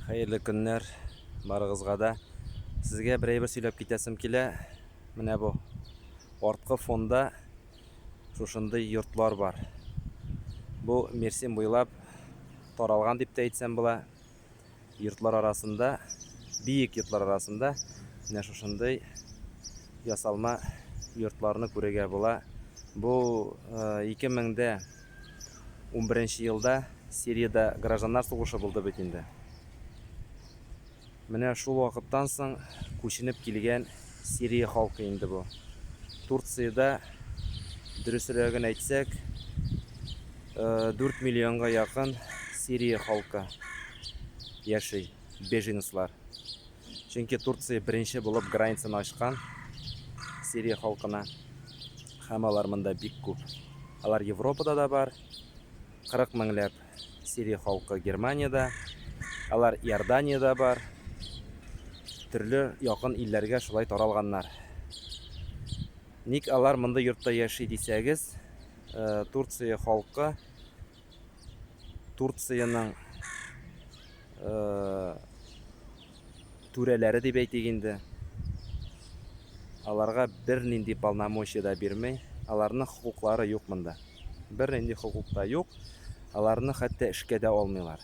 Хәерле көннәр барыгызга да. Сезгә бер әйбер сөйләп китәсем килә. Менә бу арткы фонда шушындый йортлар бар. Бу Мерсин буйлап таралган дип тә әйтсәм була. Йортлар арасында, биек йортлар арасында менә шушындый ясалма йортларны күрергә була. Бу 2000 э, дә Унберенче елда Сириядә гражданнар сугышы булды бит инде. Менә шул вакыттан соң күченеп килгән Сирия халкы инде бу. Турциядә, дөресрәген әйтсәк, дүрт миллионга якын Сирия халкы яши, беженецлар. Чөнки Турция беренче булып границаны ачкан Сирия халкына. Һәм алар монда бик күп. Алар Европада да бар. 40 меңләп Сирия халкы Германиядә. Алар Иорданиядә бар. Төрле якын илләргә шулай таралганнар. Ник алар монда йортта яши дисәгез, э, Турция халкы Турцияның э, түрәләре дип әйтик инде. Аларга бернинди полномочия да бирмей. Аларның хокуклары юк монда. Бернинди хокук та юк. Аларны хәтта эшкә дә алмыйлар.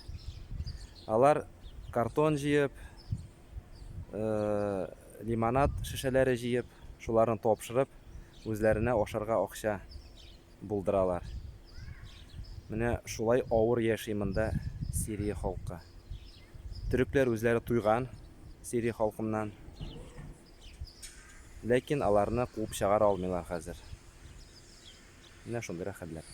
Алар картон җыеп, э, лимонад шешәләре җыеп, шуларны тапшырып, үзләренә ашарга акча булдыралар. Менә шулай авыр яши монда Сирия халкы. Төрекләр үзләре туйган Сирия халкыннан. Ләкин аларны куып чыгара алмыйлар хәзер. Менә шундыйрак хәлләр.